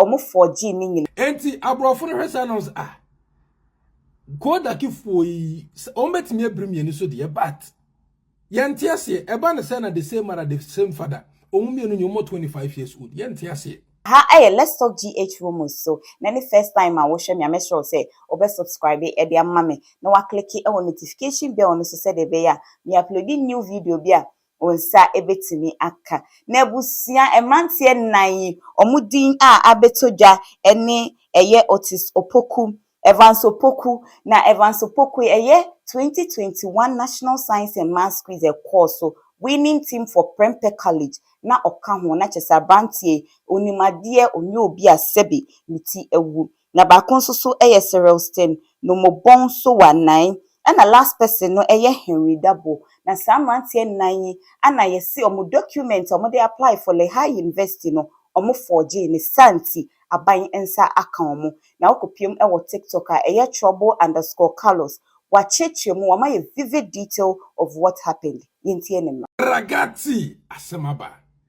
ɔmo fɔɔgyee ne nyinaa. Enti aborɔfo no hwɛ saa na ɔmo sɛ ah Kodakfoɔ yi ɔmo bɛtumi abiri mmienu so deɛ but yɛnte aseɛ ɛba ne sɛ na the same mother the same father ɔmo mmienu nyɛ ɔmo 25 years old yɛnte aseɛ. Ha yɛ Let's Talk GH Romans so na ɛne first time a wohwɛ me a mɛsrɛ wo sɛ wobɛ subscribe de ama me na woakleke wɔ notification bell no so sɛdeɛ ɛbɛyɛ a me uploadi new video bi a Wo nsa bɛtumi aka. N'abusua, mmeranteɛ nnan yi, wɔn din a abɛtɔ dwa ne, ɛyɛ Otis Opoku, Evans Opoku, na Evans Opoku yi, ɛyɛ 2021 National Science and Maths Quiz a ɛkɔɔ so, Winning Team for Prempeh College na ɔka ho, na kyerɛ sɛ aberanteɛ yi, ɔnim adeɛ, ɔnyɛ obi a sɛbe ne ti awu. na baako nso so yɛ Serelstin no mo bɔn so wa nan ɛna last person no yɛ Henry Dabo na saa mmeranteɛ nan yi ana yɛ se ɔmo document a ɔmo de apply for Lehigh University no ɔmo forgee ne saa nti aban nsa aka ɔmo na wo kɔ piem wɔ TikTok a ɛyɛ trouble underscore Carlos wa kyerekyere mu wa ma yɛ vivid detail of what happened yɛntie ne mmra. Ragazzi asɛm aba.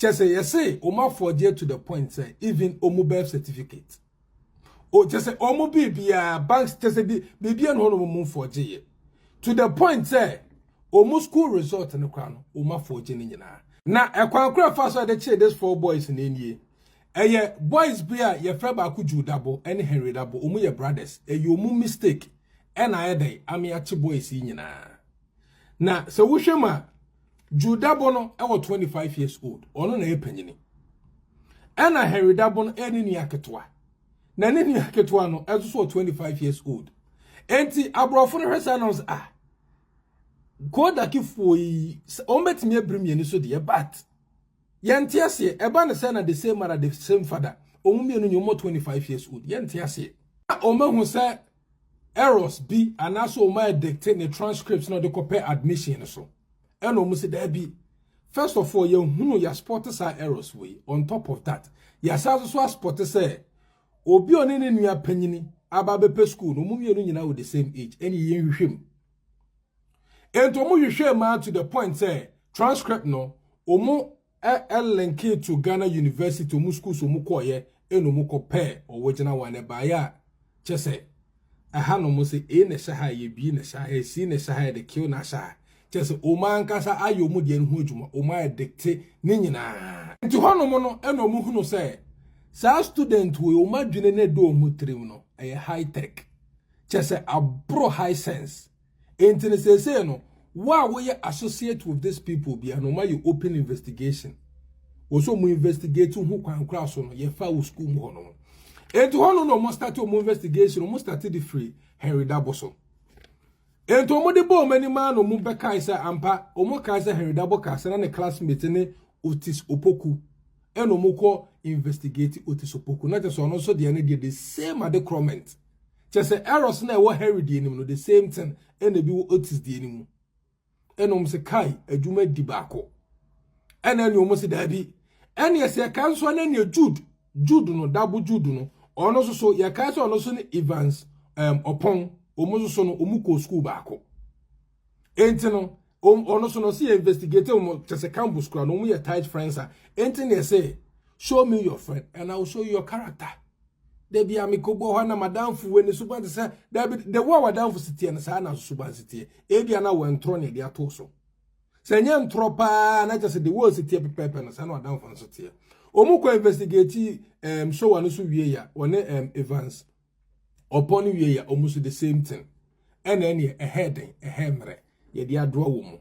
Kyɛ sɛ yɛse wɔn afɔgyeɛ to the point sɛ even wɔn birth certificate. O kyɛ sɛ wɔn biribiara banks kyɛ sɛ bi biribiara na wɔn wɔn fɔgyeɛ to the point sɛ wɔn school result no koraa no wɔn afɔgye ne nyinaa. Na ɛkwan kora fa so a yɛde kyee this four boys na nie. Ɛyɛ boys bi a yɛfrɛ baako Jude Dabo ɛne Henry Dabo wɔn yɛ brothers ɛyɛ wɔn mistake ɛna ayɛ dɛn ame akye boys yi nyinaa. Na sɛ wohwɛ mu a, Jude Dabo no wɔ 25 years old, ɔno na ɛyɛ panyini. Ɛna Henry Dabo no ɛyɛ ne nua ketewa. Na ne nua ketewa no ɛso so wɔ 25 years old. Enti aborɔfo no hwɛ saa nam sɛ ah, Kodakifoɔ yi, wɔn bɛtumi abiri mmienu so deɛ, but yɛnte aseɛ ɛba ne sɛ na the same mother the same father wɔn mmienu nyɛ wɔn 25 years old yɛnte aseɛ. Wɔn ahu sɛ errors bi anaasɛ wɔn adikte ne transcript na ɔde kɔpɛ admission no so ɛna wɔn si daabi first of all yɛhunu yɛaspɔte saa errors wei on top of that yɛasan nso so aspɔte sɛ obi ɔne ne nua panyini aba abɛpɛ school no wɔn mmienu nyinaa wɔ the same age ɛne yɛn hwehwɛ mu ɛnti wɔn hwehwɛ maa to the point sɛ transcript no wɔn Ɛ ɛ linking to Ghana University ɔmo schools ɔmo kɔɔyɛ ɛna ɔmo kɔ pɛɛ ɔwogyina one ɛbaayɛ a kyɛsɛ ɛha nom sɛ ei na ɛhyɛ ha a ɛyɛ bii na ɛhyɛ ha ɛsii na ɛhyɛ ha ɛde kill na ahyɛ ha kyɛsɛ ɔmo ankasa ayɛ ɔmo deɛ no ho adwuma ɔmo ayɛ dikte ne nyinaa. Nti hɔ nom no ɛna ɔmo hunu sɛ saa student wei ɔmo adwene no ɛda ɔmo tirim no ɛyɛ high tech kyɛsɛ aboro high sense. Enti no seesei no, wo a woyɛ associate with this people bia no ma yɛ open investigation. Wɔ so mu investigate ho kwan kora so no yɛfa wo school mu hɔ no. Enti hɔ no na wɔn start wɔn investigation wɔn start de firi Henry Dabo so. Enti wɔn de bɔ wɔn anim ano wɔn bɛkae sɛ ampa wɔn kae sɛ Henry Dabo kaa sɛ na ne classmate ne Otis Opoku ɛna wɔn kɔ investigate Otis Opoku na kyerɛ sɛ ɔno nso deɛ ne deɛ the same ade korɔ meant. Kyerɛ sɛ errors na ɛwɔ Henry deɛ no mu no the same thing ɛna ebi wɔ Otis deɛ no mu. Ɛna wɔn sɛ kai adwuma di baako. Ɛna ɛna wɔn sɛ daabi. Ɛna yɛsɛ yɛka nso ɛna ɛna Jude Jude no dabo Jude no ɔno nso so yɛka sɛ ɔno nso ne Evans um, Ɔpɔn wɔn nso so no wɔn kɔ sukuu baako. Enti no, ɔno so no sɛ yɛ investigate wɔn kyɛ sɛ campus kura no wɔn yɛ tight friends a enti na ɛsɛ show me your friend and I will show you your character. Dabi a mekɔbɔ hɔ na madamfo wɔ ne suban te sɛ dabi de wo a wadamfo si teɛ no saa na suban si teɛ ebi a na wɔntorɔ ne ɛde ato so sɛ nyɛ ntorɔ paa na kyɛ sɛ de wo si teɛ pɛpɛɛpɛ no saa na wadamfo nso teɛ wɔn kɔ investigate um, show no so wie ya wɔne um, Evans ɔpɔn no wie yɛ ɔmo so the same thing ɛna ɛneɛ ɛhɛ den ɛhɛ mmerɛ yɛde adoa wɔ mu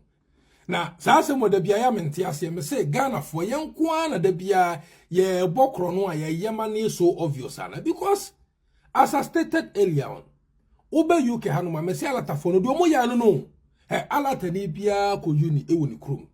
na saa asɛm wɔ da biara yɛ mente aseɛ me se Ghanafoɔ yɛn nko ara na da biara yɛbɔ korɔ no a yɛyɛ ma no yɛ so obvious ana because as I stated earlier on wobɛ UK hanom a mese alatafoɔ no deɛ ɔmo yɛ ano no Ɛ alatani biara kɔ uni wɔ ne kurom.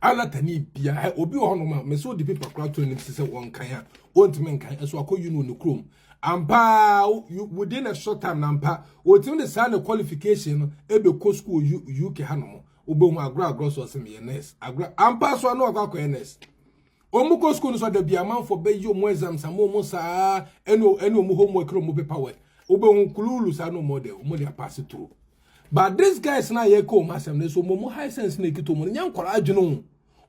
Alatani biara ɛ obi wɔ hɔnom a mɛsɛ odi pepa kora to anim sɛ wɔnkan a ɔntumi nkan ɛso akɔ uni wɔ ne kurom. Ampa within a short time na mpa ɔtumi de saa ne qualification no ɛbɛkɔ school UK hanom wobɛhu agorɔ agorɔ so ɔsɛ meyɛ nurse agorɔ ampa so ano akɔ akɔyɛ nurse Omu kɔ school no so ada bia amanfo bɛ yi omu exams ama omu saa ɛne ɛne omu homework ne omu paper work wobɛ hu kululu saa no omu de omu de apase through but this guys na yɛ kɔ omu asɛm no so omu high sense na ekita omu no nyɛ nkɔla adwene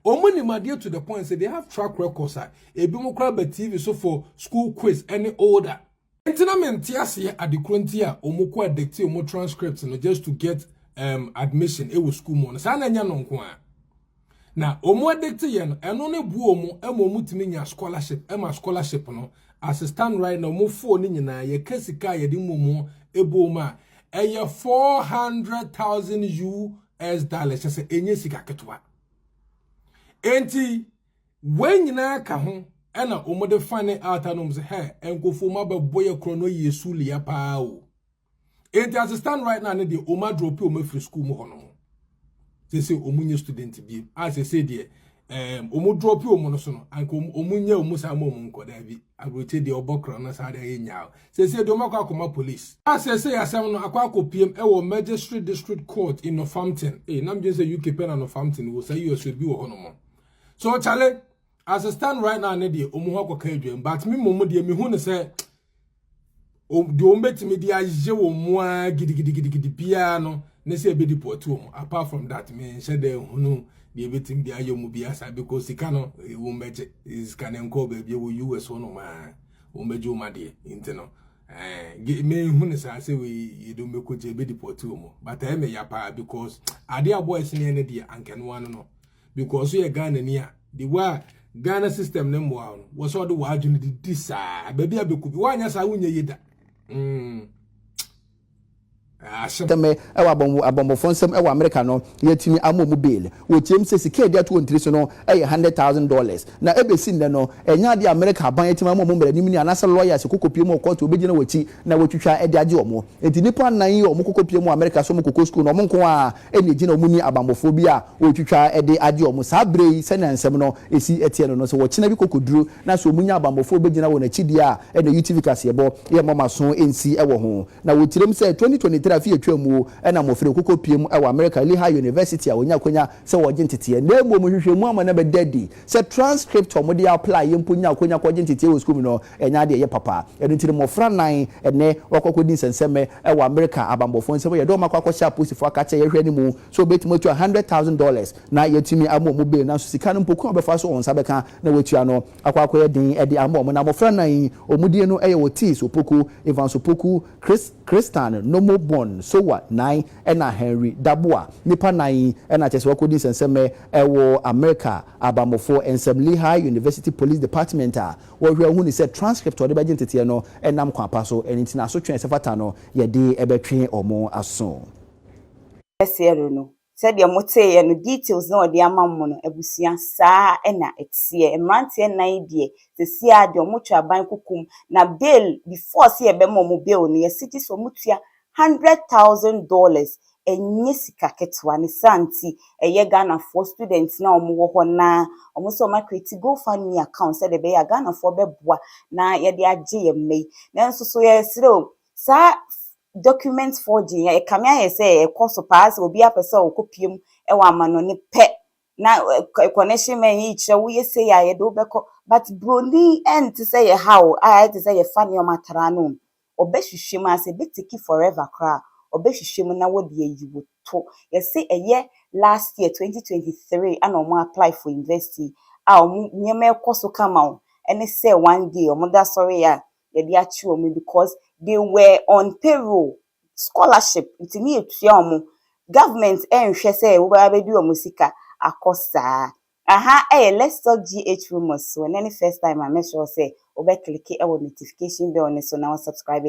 o omu nim adeɛ to the point say they have track records a ebi mo kora ba TV so for school quiz ɛne older Nti na mente aseɛ ade korɔ nti a ɔmo kɔ adikti ɔmo transcript no just to get um, admission ɛwɔ school mu no saa na ɛnyɛ no nko a na ɔmo adikti yɛ no ɛno ne boɔ ɔmo ɛma ɔmo tumi nya scholarship ɛma scholarship no as a stand right na ɔmo foɔ no nyinaa yɛka sika a yɛde mmɔ mu ɛbɔ ɔmo a ɛyɛ 400,000 US dollars kyɛ sɛ ɛnyɛ sika ketewa enti Wei nyinaa ka ho ɛna wɔn de fa ne altar nom sɛ hɛ nkofo ma bɛ bɔ yɛ korɔ no yie su lia paa o. Enti as stand right now ne deɛ wɔn adropi wɔn afiri school mu hɔ no ho. Sese wɔn nye student bie a sese deɛ ɛɛm wɔn dropi wɔn no so no anka wɔn nye wɔn saa wɔn nkɔ daabi aburokye deɛ ɔbɔ korɔ no saa deɛ ayɛ nyaa sese deɛ wɔn akɔ akɔma police. A sese yasɛm no akɔ akɔpiem ɛwɔ magistrate district court in Northampton. Ee nam gye sɛ UK pɛ na Northampton wɔ saa US bi wɔ hɔ nom. so chale as a stand right now ne deɛ ɔmo hɔ akɔka adwam but me mmom deɛ mehu ne sɛ deɛ ɔmo bɛtumi de ayɛ wɔn mu ara gidigidigidi biara no ne sɛ ɛbɛdi pɔtu wɔn apart from that me nhyɛ dɛ hunu deɛ ɛbɛtumi de ayɛ wɔn biara saa because sika no eh, wɔn bɛgye eh, sika no nkɔ baabi wɔ us hɔ nom a wɔn bɛgye wɔn adeɛ nti no ɛɛ eh, me hu ne saa sɛ wei yɛde wɔn bɛkɔ gye ɛbɛdi pɔtu wɔn but ɛyɛ me ya paa because adeɛ a boys ne yɛ ne deɛ ankɛnoa no no. Because yɛ Ghana ni a, the way a Ghana system ne mmoa no, wɔ sɛ ɔde w'adwene de di saa. Baabi a bɛkɔ bi, woanyɛ saa wonyɛ yie da. Mm. Asɛm. Tɛmɛ ɛwɔ abɔnbo abɔnbɔfoɔ nsam ɛwɔ Amerika no, yɛatumi ama ɔmu bail. Wɔtiam sɛ sika a yɛde ato wɔn tiri so no yɛ hundred thousand dollars. Na ɛbɛsi nnɛ no, ɛnyɛ adeɛ a Amerika aban atumi ama ɔmu mmaranimni anaasɛ lawyers kɔ kɔpie mu wɔ kɔɔto a wɔbɛgyina wɔn akyi na wɔatwitwa de agye ɔmu. Enti nnipa nnan yi a ɔmu kɔ kɔpie mu wɔ Amerika sɛ ɔmu kɔkɔ sukuu no, ɔmu nko ara ɛnna egyina wɔn ne abammɔfoɔ bi a wɔretwitwa de agye wɔn. Saa berɛ yi, sɛnea nsɛm no si teɛ no no, sɛ wɔkyena bi kɔkɔduru na sɛ wɔnya abammɔfoɔ a wɔbɛgyina wɔn akyi deɛ a, ɛnna UTV kaseɛbɔ yɛ mma wɔn aso nsi wɔ ho. Na wɔkyerɛm sɛ, 2023 afe a ɛtwaam mu na mmɔfra yi kɔkɔpuem wɔ Amerika Lehigh University a wɔnya akwanya sɛ wɔregye nteteɛ. Na mmom, nhwehwɛmu ama no abɛda adi sɛ transcript a wɔde applye mpo nyaa akwanya kɔgye nteteɛ wɔ sukuu mu no, Ɛnyɛ ade a ɛyɛ papa. Ɛno nti no, mmofra nnan nnɛ wɔakɔ akodi nsɛnsɛmɛ wɔ Amerika abanbɔfoɔ nsam. Wɔyɛ dɔm a wɔakɔ akɔhyɛ apolisifoɔ akakyɛ a yɛhwɛ no mu sɛ wɔbɛtumi atua hundred thousand dollars na yɛatumi ama wɔn bail. Nanso sika no mpo kwan a wɔbɛfa so wɔn nsa bɛka na wɔatua no akɔ akɔyɛ den de ama wɔn. Na mmofra nnan yi, wɔn din no yɛ Ortiz Opoku, Evans Opoku, Chris, Christan Nomo Bon Sowa nan ɛna Henry Daboah. Nnipa nnan yi na kyerɛ sɛ wɔakɔdi nsɛnsɛmɛ wɔ Amerika abanbɔfoɔ nsam. Lehigh University Police Department a Wɔhwɛ a wohunu sɛ transcript a wɔde bɛgye nteteɛ no nam kwan pa so, ɛno nti na asotwe a ɛsɛ fata no yɛde bɛtwe wɔn aso. Kɛseɛ do no sɛdeɛ mo teeɛ no details na ɔde ama mo no abusua saa na ɛteɛ mmeranteɛ nnan yi deɛ sesie ara deɛ wɔn twa ban kokom na bail before sɛ yɛbɛma wɔn bail no yɛsegye sɛ wɔn tua Hundred thousand dollars ɛnyɛ sika ketewa ne saa nti ɛyɛ Ghanafoɔ students no a wɔn wɔ hɔ no ara wɔn sɛ wɔn a create go fund me account sɛdeɛ ɛbɛyɛ a Ghanafoɔ bɛboa na yɛde agye yɛn mma yi nanso so yɛsrɛ o saa document forging yi ɛkame ayɛ sɛ ɛkɔ so paa sɛ obi apɛ sɛ ɔkɔ pie mu wɔ amanɔne pɛ na connection man yi kyerɛ woyɛ sei a yɛde wobɛkɔ but broni ɛnte sɛ yɛ ha o a ɛte sɛ yɛfa nneɛma tra no ɔbɛhwehwɛ mu anaasɛ ɛbɛteki forever koraa a, ɔbɛhwehwɛ mu na wɔde ayi wo to. Yɛse ɛyɛ last year, twenty twenty three ɛna wɔn apply for university a wɔn nneɛma ɛkɔ so kama o, ɛne sɛ one day wɔn da sɔre yɛ a yɛde akye wɔn because they were on payroll, scholarship nti ne yɛtua wɔn, government ɛnhwɛ sɛ wobɛba abɛdi wɔn sika akɔ saa. Aha yɛ Let's Talk GH Rumours so. Ɛnnɛ ne first time a mɛsrɛ wo sɛ wobɛ click wɔ notification bell no so na wo subscribe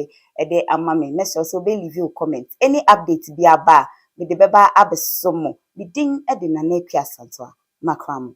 de ama me. Mɛsrɛ wo sɛ wobɛ leave wo comment. Any update bi aba a, mede bɛba abɛsɔ mo. Me din de Nana Akua Asantewa. Makra mo.